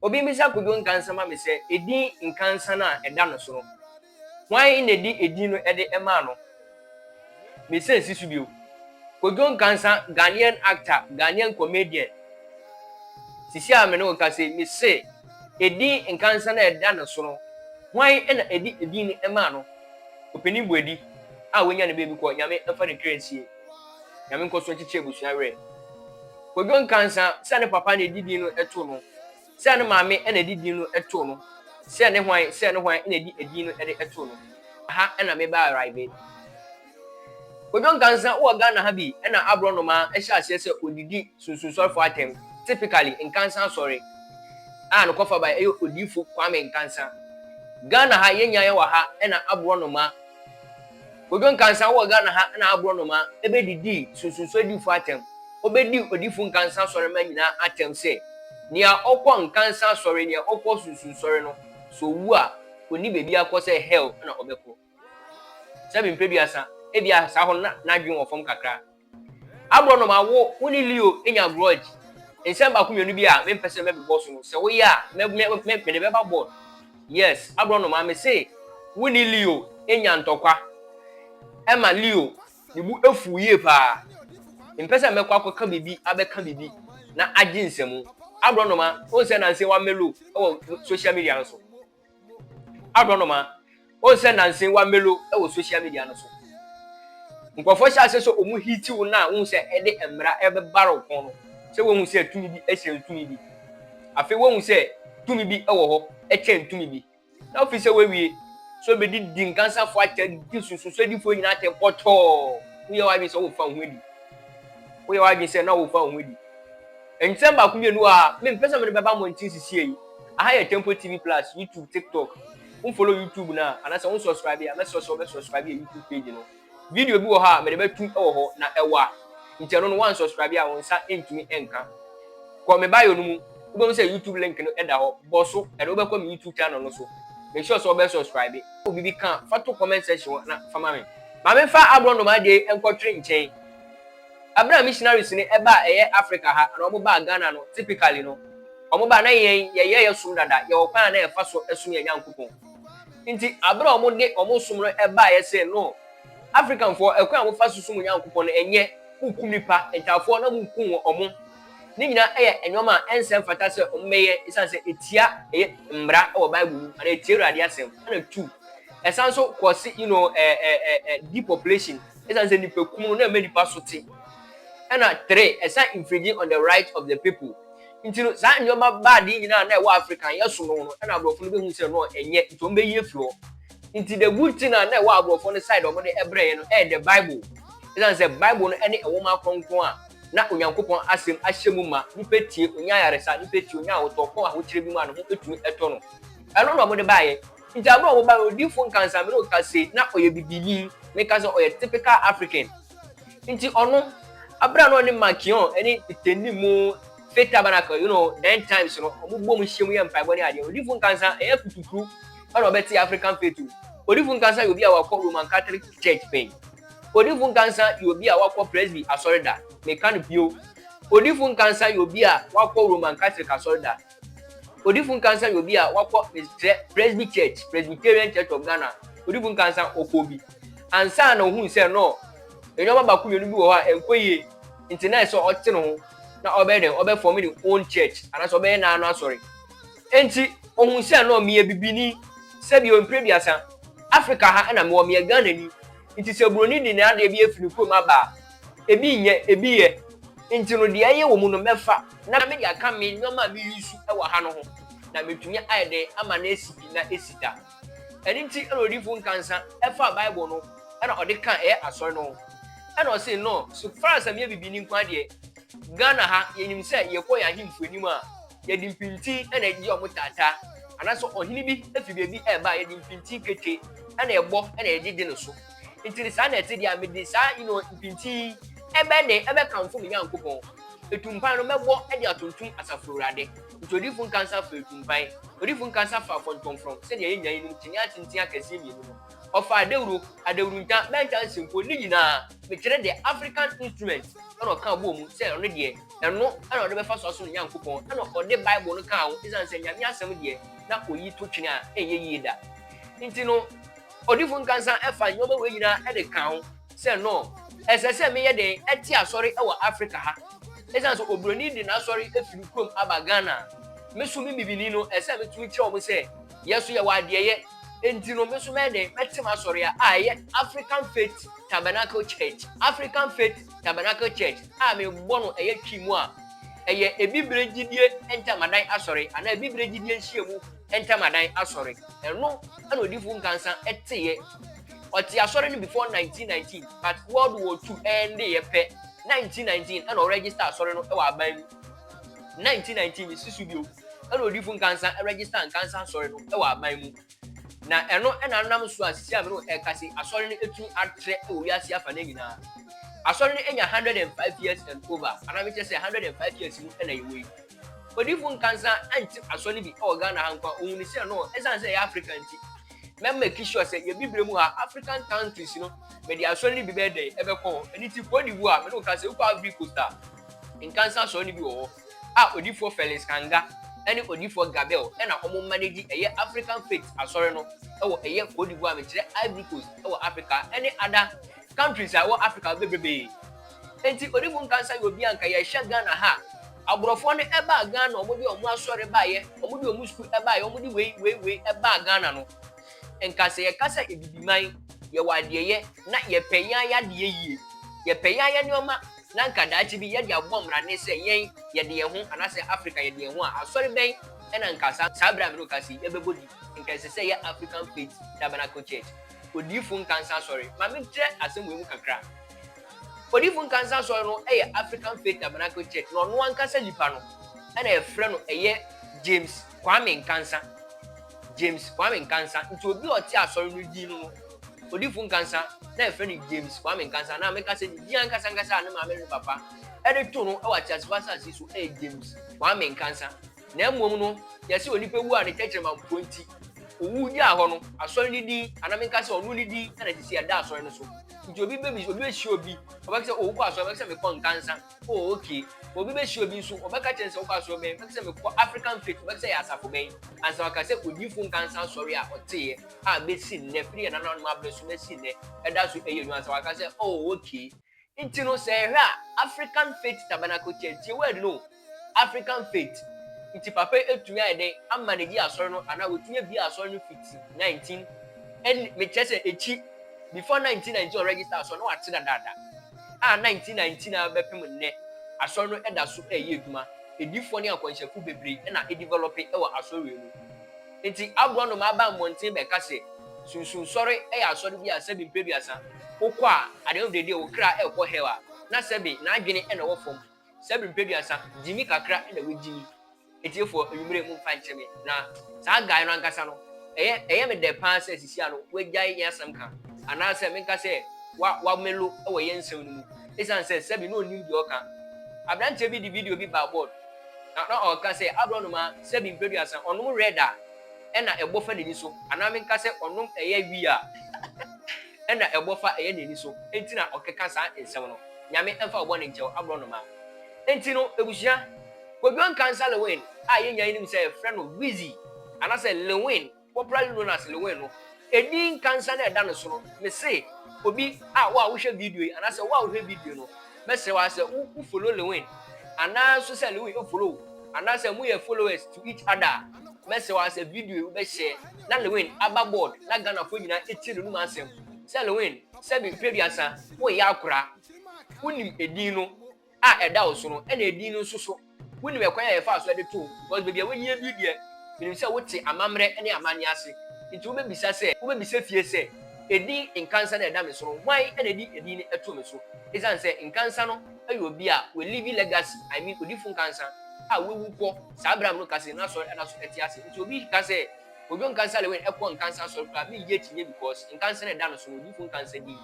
Obi mmisa Kwadwo Nkansah ma me sɛ, edin Nkansah no a ɛda no so no, hwan na ɛde edin no de maa no? Mesan si so bio. Kwadwo Nkansah, Ghanaian actor, Ghanaian comedian. Sisi a me ne wo rekasa yi, mese, edin Nkansah no a ɛda no so no, hwan na ɛde edin no maa no? Ɔpanin Boadi a wanya ne baabi kɔ, Nyame mfa ne kra nsie. Nyame nkɔ so nkyekye abusua werɛ. Kodwo Nkansa sɛ ne papa na ɛdi din no ɛto no, sɛ ne maame na ɛdi din no ɛto no, sɛ ne hwan sɛ ne hwan na ɛdi ɛdin no ɛde ɛto no. Aha ɛna me ba arrive. Kodwo Nkansa wowɔ Ghana ha bi ɛna aborɔ nnomaa ɛhyɛ aseɛ sɛ ɔdidi sunsunsɔrefoɔ atɛm, typically Nkansa asɔre a no kɔfabaɛ ɛyɛ odiifo Kwame Nkansa. Ghana ha yɛnnya yɛwɔ ha ɛna aborɔ nnomaa. Kojo Nkansah wɔ Ghana ha na aborɔnoma bedidii sunsunso adifo atɛm. Obedii odifo Nkansah asɔremma nyinaa atɛm sɛ, Nea ɔkɔ Nkansah asɔre, nea ɔkɔ sunsunsɔre no, sɛ owu a, onni baabi akɔ sɛ hell na ɔbɛkɔ. Sɛ me mpeduasa, ebia saa hɔ no na n'adwene wɔ fam kakra. Aborɔnoma, wo, wo ne Leo anya grudge. Nsɛm baako mmienu bi a mempɛ sɛ mɛbobɔ so no, sɛ woyɛ a, mɛ, mɛ, mɛ, mɛ, mede bɛba board. Yes, aborɔnoma, mese wo ne Leo anya ntɔkwa. Ɛma Leo ne bo afuw yie paa. Mempɛ sɛ mɛkɔ akɔka biribi, abɛka biribi, na agye nsam. Aborɔnoma, wohu sɛ nnansa yi wamelo wɔ social media no so? Aborɔnoma, wohu sɛ nanse wɔamelo wɔ social media no so. Nkurɔfoɔ hyɛ aseɛ sɛ wɔn hiti wo no a wohu sɛ ɛde mmara ɛrebɛbare wo kɔn no sɛ woahu sɛ tumi bi ɛhyɛn tumi bi. Afei woahu sɛ tumi bi wɔ hɔ ɛkyɛn tumi bi. Na wofiri sɛ woawie sɛ wobɛdi di nkansafoɔ atɛn de di nsunsuansoɔdifoɔ nyinaa atɛn pɔtɔɔ. Woyɛ w'adwene sɛ worefa wo ho adi. Woyɛ w'adwene sɛ na worefa wo ho adi. Nsɛm baako mmienu a me mpɛ sɛ mede bɛba mmɔnten sesie yi, aha yɛ Temple TV plus, YouTube, TikTok, wo follow YouTube no a, anaasɛ wo subscribe a, mɛsrɛ sɛ wo bɛ subscribe yɛ YouTube page no. Video bi wɔ hɔ a mede bɛ tu wɔ hɔ, na ɛwa, nti ɛno no wo an subscribe a wo nsa ntumi nka. Kɔ me bio no mu, wo bɛ hu sɛ YouTube link no da hɔ, bɔ so, ɛde wo bɛ kɔ me YouTube channel no so. Make sure sɛ wo bɛ subscribe. Wo biribi ka a, fa to comment section hɔ na fa ma me. Ma me nfa aborɔnoma deɛ yi nkɔ twere nkyɛn. Aber a missionaries no ɛbaa a ɛyɛ Africa ha anaa ɔmo baa Ghana no typically no ɔmo baa na yɛn yɛyɛ yɛ som dada yɛwɔ kwan a na yɛfa so ɛsom yɛn Nyankopɔn nti aber a ɔmo de ɔmo som no ɛbaa yɛ see no African foɔ ɛkwan a mo fa so som mo Nyankopɔn no ɛnyɛ mo kum nipa ntaafoɔ na mo kum wɔn ɔmo ne nyinaa ɛyɛ nnoɔma a ɛnsɛ mfata sɛ ɔmo bɛyɛ ɛsiane sɛ ɛtia ɛyɛ mmra ɛwɔ Bible mu anaa ɛtia Awurade asɛm ɛna two ɛsan so cause you know ɛɛ ɛɛ ɛɛ depopulation. Esiane sɛ nnipakum no na ɛma nnipa so te, ɛnna three ɛsan infringe on the right of the people nti no, saa nneɛma bad yi nyinaa a na ɛwɔ Africa no, yɛsom no no, ɛnna aborɔfo no behu sɛ no, ɛnyɛ, nti wɔbɛyi afiri hɔ. Nti the good thing a na ɛwɔ aborɔfo no side a wɔde brɛ yɛn no ɛyɛ the Bible. Esiane sɛ Bible no ne nwoma kronkron a na Onyankopɔn Asɛm ahyɛ mu ma, nnipa tie, onya ayaresa, nnipa tie, onya ahotɔ, ɔkɔ ahokyere bi mu a ne ho tumi tɔ no, ɛno na wɔde baeɛ. Nti aber a wɔbae no, odiyifo Nkansah Minogue ka se na ɔyɛ Bibinyi, me ka sɛ ɔyɛ typical African. Nti ɔno, aber a na ɔne Makion ne Itendi mu Faith Tabernacle, you know, then times no, wɔn bɔ mu hyia mu yɛ mpaebɔ ne ade no, odiyifo Nkansah, ɛnyɛ kutukuru na ɔbɛtse African Faith o. Odiyifo Nkansah yɛ obi a ɔakɔ Roman Catholic Church pɛn. Odiyifo Nkansah yɛ obi a ɔakɔ Presby Asɔr da. Me ka no bio, odiyifo Nkansah yɛ obi a ɔakɔ Roman Catholic Asɔr da. Odifo Nkansah yɛ obi a wakɔ Presby Church, Presbyterian Church of Ghana. Odifo Nkansah ɔkɔɔ bi. Ansa na ohun sɛ no, nneɛma baako mmienu bi wɔ hɔ a ɛnkɔ yie. Nti na ɛsɛ ɔte ne ho na ɔbɛyɛ dɛn? Ɔbɛfɔm ne own church anaasɛ ɔbɛyɛ n'ano asɔre. Nti ohun sɛ no, meyɛ bibini, sɛbi o mpire biasa. Africa ha na mewɔ, meyɛ Ghanani. Nti sɛ buroni de n'adeɛ bi afiri ne kurom aba a, ebi nyɛ, ebi yɛ, nti no deɛ ɛyɛ wɔ mu no mɛfa na mede aka me nnoɔma a me use wɔ ha no ho na mɛtumi ayɛ dɛn ama no asi pi na asi da. Ɛno nti na odiyifo nkansa faa bible no na ɔde kaa ɛyɛ asɔre no ho ɛna ɔse no so far as sɛ meyɛ bibini nko ara deɛ Ghana ha yɛnim sɛ yɛkɔ yɛn ahemfo anim a yɛde mpinti na ɛgye wɔn taataa anaasɛ ɔhene bi fi baabi ɛreba a yɛde mpinti kete na ɛbɔ na yɛgyegye no so. Nti ne saa na ɛte deɛ mede saa you know, mpintin yi ɛbɛ ne ɛbɛ kamfo me Nyankopɔn. Etumpan no mɛbɔ de atontom Asafo Awurade. Nti odiyifo nka nsa fa etumpan, odiyifo nka nsa fa afɔntɔmfrɔm sɛdeɛ yɛn nyinaa yinom kyiniiɛ atenten akɛseɛ mmienu no. Ɔfa adawuro, adawurunta, bɛnta nsenkuo, ne nyinaa, mekyerɛ deɛ African instrument, ɛna ɔka bɔɔ mu sɛ ɔno deɛ ɛno ɛna ɔde bɛfa so asom ne Nyankopɔn, ɛna ɔde Bible no kaa ho, esiane sɛ Nyame asɛm deɛ na oyi to twene a ɛnyɛ yie da. Nti no. Odifo Nkansah fa nneɛma wei nyinaa de ka ho sɛ, No, ɛsɛ sɛ meyɛ dɛn te asɔre wɔ Afrika ha? Esiane sɛ oburoni de n'asɔre fi ne kurom aba Ghana a, me so me bibini no, ɛsɛ sɛ mitumi kyerɛ wɔn sɛ, yɛn nso yɛwɔ adeɛyɛ. Enti no, me nso mɛyɛ dɛn mɛte m'asɔre a a ɛyɛ African Faith Tabernacle Church, African Faith Tabernacle Church, a mebɔ no ɛyɛ Twi mu a, ɛyɛ Abibire Gyidie Ntamadan Asɔre anaa Abibire Gyidie Nhyiamu Ntamadan Asɔre. Ɛno na Odifo Nkansah teeɛ. Ɔtee Asɔre no before 1919 but World War Two ɛndeeɛ pɛ, 1919 ɛna ɔregister Asɔre no wɔ aban mu. 1919 mesi so bio ɛna Odifo Nkansah register Nkansah Asɔre no wɔ aban mu. Na ɛno na nam so a sisi a me ne wo ɛreka sei Asɔre no atumi atrɛ wɔ wiase afa no nyinaa. Asɔre no anya 105 years and over anaa mekyerɛ sɛ 105 years mu na yɛwɔ yi. Odiyifo Nkansah anntse asɔr no bi wɔ Ghana ha nko a, ohun no sɛ no, esiane sɛ yɛyɛ Africa ntsi, mɛ make sure sɛ yɛ bibire mu ha, African countries no, mede asɔr no bi bɛyɛ dɛn, ɛbɛkɔ hɔ. Ɛno ntsi, Côte d'Ivoire, me ne wo ka sɛ, wokɔ Ivory Coast a, Nkansah asɔr no bi wɔ hɔ a Odiyifoɔ Felix Kanga ne Odiyifoɔ Gabel na wɔn manage, ɛyɛ African Faith asɔre no wɔ ɛyɛ Côte d'Ivoire, mekyerɛ Ivory Coast wɔ Africa ne other countries a ɛwɔ Africa no bebrebee. Enti onibu nka nsa yɛ obi a anka yɛhwɛ Ghana ha a, aborɔfoɔ no ɛbaa Ghana wɔn de wɔn asɔre baeɛ, wɔn de wɔn sukuu ɛbaeɛ, wɔn de wei wei wei ɛbaa Ghana no, nka sɛ yɛka sɛ Abibiman yɛwɔ adeɛyɛ na yɛpɛ yɛn ayadeɛ yie, yɛpɛ yɛn ayɛ nneɛma na anka daakye bi yɛde abɔ mmrane sɛ yɛn yɛde yɛn ho anaasɛ Africa yɛde yɛn ho a, asɔre bɛn ɛna nka saa berɛ a me ne wo kasa yi yɛbɛbɔ din? Nka ɛsɛ sɛ ɛyɛ African Faith Tabernacle Church. Odiyifo Nkansah Asɔre. Ma menkyerɛ asɛm wei mu kakra. Odiyifo Nkansah Asɔre no yɛ African Faith Tabernacle Church, na ɔno ankasa nipa no na yɛfrɛ no ɛyɛ James Kwame Nkansah. James Kwame Nkansah. Nti obi a ɔte asɔre no din no no, Odiyifo Nkansah, na yɛfrɛ no James Kwame Nkansah, anaa meka sɛ ne din ankasa ankasa a ne maame ne ne papa de too no wɔ ateasefo asase so yɛ James Kwame Nkansah. na mmom no, yɛse onipa wu a ne tɛkyerɛma mpo nti, owuu gyaa hɔ no, Asɔre no din, anaa menka sɛ ɔno ne din, na ɛsɛ sɛ yɛda Asɔre no so. Nti obi bɛbis, obi bɛhyia obi, ɔbɛka sɛ, oh, wokɔ Asɔre, ɔbɛka sɛ, mekɔ Nkansa, oh, okay. Obi bɛhyia obi nso, ɔbɛka kyerɛ no sɛ, wokɔ Asɔre bɛn? Ɔbɛka sɛ, mekɔ African Faith, ɔbɛka sɛ, ɛyɛ asafo bɛn? Ansa waka sɛ, Odiyifo Nkansa Asɔre a ɔteeɛ a bɛsi nnɛ, firi yɛn nananom aberɛ so bɛsi nnɛ, ɛda so yɛ adwuma, ansa waka sɛ, oh, okay. Nti no sɛ yɛhwɛ a African Faith Tabernacle Church, tie word no o, African Faith, nti papa yi atumi ayɛ dɛn ama no adi asɔre no anaa watumi abie asɔre no fiti 19 ɛn mekyerɛ sɛ akyi before 1919 ɔregister asɔre no wate dadaada a 1919 ara bɛpem nnɛ asɔre no ɛda so ɛɛyɛ adwuma, adiyifoɔ ne akɔnhyɛfoɔ bebree ɛna ɛdevelɔpe ɛwɔ asɔre wei mu. Enti agorɔnoma baa mmɔnten bɛka sɛ, Sunsunsɔre yɛ asɔre bi a sɛbe mpeduasa wokɔ a, at the end of the day wo kra rekɔ hell a, na sɛbe n'adwene na ɛwɔ fam. Sɛbe mpeduasa, gyimi kakra na wagyimi. Atiefo, anwummere momfa nkyɛ me, na saa guy no ankasa no, ɛyɛ ɛyɛ me dɛ paa sɛ sesia no wagyae yɛn asɛm ka, anaasɛ menka sɛ wa wamelo wɔ yɛn nsɛm no mu, esiane sɛ sɛbe na onnim deɛ ɔka. Abranteɛ bi de video bi baa board. Na na ɔka sɛ, Aborɔnoma sɛbi mpɛduasa, ɔnom red a ɛna ɛbɔ fa n'ani so, anaa menka sɛ ɔnom ɛyɛ wii a ɛna ɛbɔ fa ɛyɛ n'ani so nti na ɔkeka saa nsɛm no. Nyame mfa wo bɔne nkyɛ wo, aborɔnoma. Nti no, abusua, Kwadwo Nkansah Lewin a yɛn nyinaa yɛnim sɛ yɛfrɛ no Wizzy, anasɛ Lewin, Corporal Jonas Lewin no, edin nkansa no a ɛda no so no, mise obi a wo a wohwɛ video yi anaasɛ wo a wohwɛ video yi no, mɛsrɛ wo ara sɛ wo wo follow Lewin anaa nso sɛ Lewin ofollow wo anaasɛ moyɛ followers to each other a, mɛsrɛ wo ara sɛ video yi wobɛ share na Lewin aba board na Ghanafoɔ nyinaa ɛtie n'anum asɛm sɛ Lewin sɛbi peduasa woyɛ akora wonim edin no a ɛda wo so no na edin no nso so. Wunim ɛkwan a yɛfaa so de too wo? Because baabi a woayi adi deɛ, minim sɛ wote amammerɛ ne amanneɛ ase, nti wobɛbisa sɛ, wobɛbisa fie sɛ, Edin Nkansah no a ɛda me so no, hwan na de edin no too me so? Esiane sɛ Nkansah no yɛ obi a walivi legacy, I mean, Odifo Nkansah a wawu kɔ saa bere a mekasa yi no, n'asɔre da so te ase, nti obi ka sɛ, Kojo Nkansah Lewin ɛkɔ Nkansah Asɔre koraa me yie kyinyɛ because Nkansah na ɛda no so no Odiyifo Nkansah din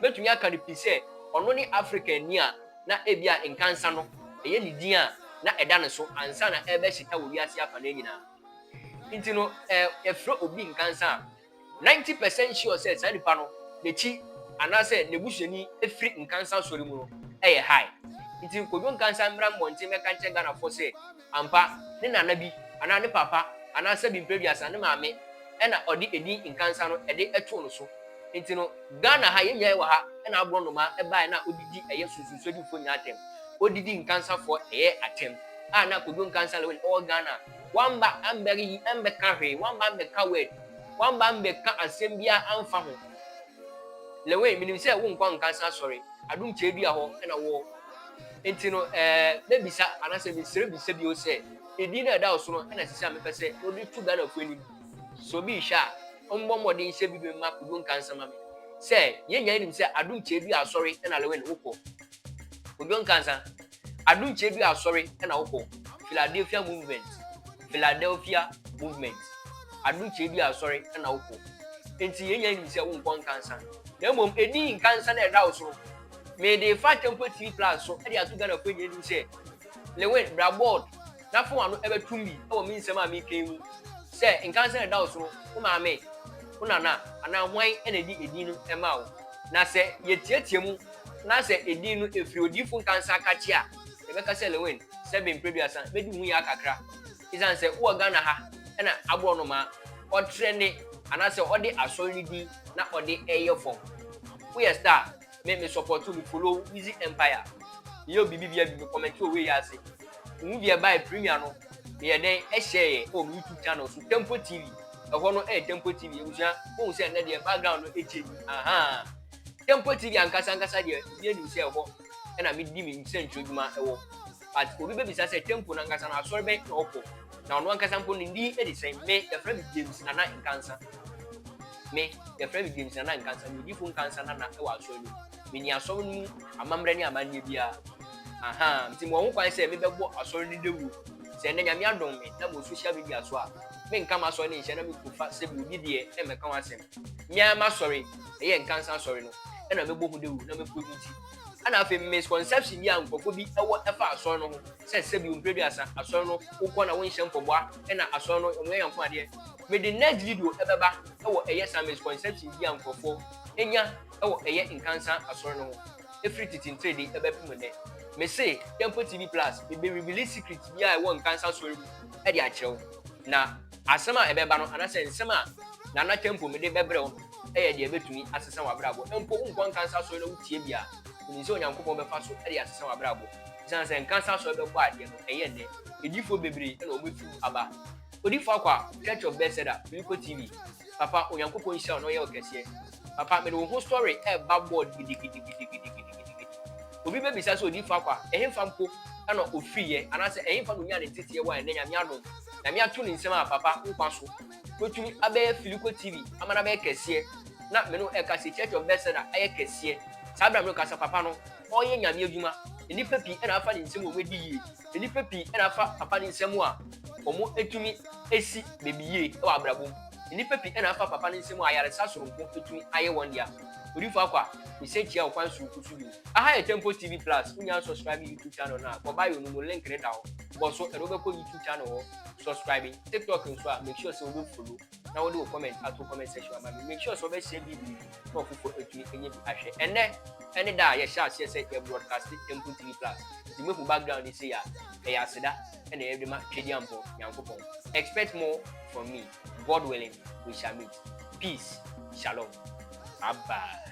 mɛtumi aka no pi sɛ ɔno ne African ni a na ebia Nkansah no ɛyɛ ne din a na ɛda no so ansa na ɛrebɛhyeta wɔ wiase afanaa nyinaa nti no ɛ yɛfrɛ obi Nkansah a ninety percent sure sɛ saa nipa no n'akyi anaasɛ n'abusuani firi Nkansah Asɔre mu no ɛyɛ high nti Kojo Nkansah mmra mmɔnten mmɛka nkyerɛ Ghanafoɔ sɛ Ampa, ne nana bi anaa ne papa anaa sɛbi mprɛ biasa ne maame ɛna ɔde edin Nkansah no ɛde ɛtoo no so. Nti no Ghana ha yɛn nyinaa yɛwɔ ha ɛna aborɔnoma ɛbaeɛ na ɔdidi ɛyɛ Sunsunswadifoɔ nyinaa atɛm. Ɔdidi Nkansahfoɔ ɛyɛ atɛm a na Kojo Nkansah Lewin ɔwɔ Ghana wamba ambɛre yi ambɛka hwee, wamba ambɛka word, wamba ambɛka asɛm biara amfa ho. Lewin, menim sɛ wonkɔ Nkansah asɔre, Adum Kyeredua hɔ ɛna woɔ. Enti no, ɛɛ, mɛbisa, anaasɛ mesrɛ bisa bio sɛ, edin no a ɛda wo so no na ɛsɛ sɛ a mepɛ sɛ wode to Ghanafoɔ anim? Sɛ obi rehwɛ a, ɔmmɔ mmɔden sɛ bi bɛma Kojo nka nsɛm ma me. Sɛ, yɛn nyinaa nim sɛ Adom Tyeadua Asɔre na Lewin wokɔ. Kojo Nkansa, Adom Tyeadua Asɔre na wokɔ, Philadelphia Movement, Philadelphia Movement, Adom Tyeadua Asɔre na wokɔ. Enti yɛn nyinaa nim sɛ wonkɔ Nkansa. Na mmom, edin Nkansa no a ɛda wo so no, Mede fa Temple TV Plus so de ato Ghanafoɔ nyinaa anim sɛ, Lewin, bra bold na fa w'ano bɛtom bi wɔ me nsɛm a meretwe yi mu sɛ nkansa a ɛda wo so no, wo maame, wo nana anaa hwan na ɛde edin no maa wo? Na sɛ yɛteatea mu na sɛ edin no firi odiyifo nkansa ka kye a, yɛbɛka sɛ Lewin, Sɛbe Mprɛduasa, bɛdi ho yɛ akakra. esiane sɛ wowɔ Ghana ha na aborɔnoma ɔtrɛ ne anaasɛ ɔde asɔre no din na ɔde ɛyɛ fam. Woyɛ star me me support wo me follow wo easy empire meyɛ obi bi bia bi me comment wɔ wei ase wohu deɛ ɛbae premier no meyɛ dɛn ɛhyɛɛyɛ ɛwɔ me youtube channel so tempo tv ɛhɔ no ɛyɛ tempo tv abusua wohu sɛ ɛnɛ deɛ background no ɛkyɛ yi ahaa tempo tv ankasa ankasa deɛ obi anim sɛ ɛhɔ ɛna medi me nsɛntwerɛ dwuma ɛwɔ But obi bɛbisa sɛ temple no ankasa no asɔre bɛn na ɔkɔ? Na ɔno ankasa mpo ne din de sɛn? Me, yɛfrɛ me James Nana Nkansa. Me, yɛfrɛ me James Nana Nkansa, me odifo Nkansa Nana wɔ asɔre no mu. Menni asɔre no mu amammerɛ ne amanneɛ biara. Aha, nti mewɔ ho kwan sɛ mebɛbɔ asɔre no dawuro. Sɛ ɛnnɛ Nyame adom me na mewɔ social media so a, menka m'asɔre no nhyɛ na menkɔfa sɛbi obi deɛ ɛmmɛka ho asɛm. Me ara m'asɔre, ɛyɛ Nkansa asɔre no, na mɛbɔ ho dawuro na mɛpromote. Ɛna afei misconception bi a nkurɔfo bi wɔ ɛfa asɔre no ho sɛ sɛbi mpere bi asa asɔre no wokɔ na wonhyɛ mpɔboa ɛna asɔre no wɔn yɛ yanko adeɛ. Mede next video ɛbɛba ɛwɔ ɛyɛ saa misconception bi a nkurɔfo nya ɛwɔ ɛyɛ nkansa asɔre no ho ɛfiri tete ntiredi ɛbɛpem nnɛ. Mese Temple TV plus mebe reveale secret bi a ɛwɔ nkansa asɔre mu ɛde akyerɛ wo na Asɛm a ɛbɛba no anaasɛ nsɛm a Nana Tempum de bɛbrɛ wo no yɛ deɛ ɛbɛtumi asesa w'abrabɔ. Mpo wo nkɔ nkansa asɔre na wotie bi a, wonim sɛ Onyankopɔn bɛfa so de asesa w'abrabɔ. Esiane sɛ nkansa asɔre bɛbɔ adeɛ no, ɛyɛ nnɛ, adiyifoɔ bebree na wɔbɛtu aba. Odifo Akwa, Church of Bethesda, Biliko TV, Papa, Onyankopɔn nhyira wo na ɔyɛ wo kɛseɛ. Papa, mede wo ho story reba board gidigidigidigidigidi. Obi bɛbisa sɛ, Odiyifo Akwa, ɛhefa mpo na ɔfiriiɛ anaasɛ ɛhefa na ɔnyaa ne nteteɛ wɔ ha nnɛ, Nyame adom? Nyame ato ne nsam a papa nkwa so Watumi abɛyɛ Filico TV ama no abɛyɛ kɛseɛ Na me ne wo ɛkasa yi Church of Bethesda ayɛ kɛseɛ Saa berɛ a me ne wo kasa papa no ɔreyɛ Nyame adwuma Nnipa pii na afa ne nsam a wɔn adi yie Nnipa pii na afa papa no nsam a wɔn atumi asi baabi yie wɔ abrabɔ mu Nnipa pii na afa papa no nsam a ayaresa soronko atumi ayɛ wɔn dea Odifo Akwa mesan kyia wo kwan soronko so bio Aha yɛ Temple TV Plus Wonnya ansubscribe YouTube channel no a kɔ bio no mu link no da hɔ. bɔ so ɛde wobɛkɔ youtube channel hɔ subscribe tiktok nso a make sure sɛ wobɛ follow na wode wo comment ato comment section ama me make sure sɛ wobɛhyɛ bi bi na ɔfoforɔ atumi ɛnyɛ bi ahwɛ ɛnɛ ɛne da a yɛhyɛ aseɛ sɛ yɛ broadcast mpo tv plus nti mehu background ne sei a ɛyɛ aseda ɛna ɛde ma twɛdi ampɔ nyankopɔn expect more from me god willing we shall meet peace shalom bye bye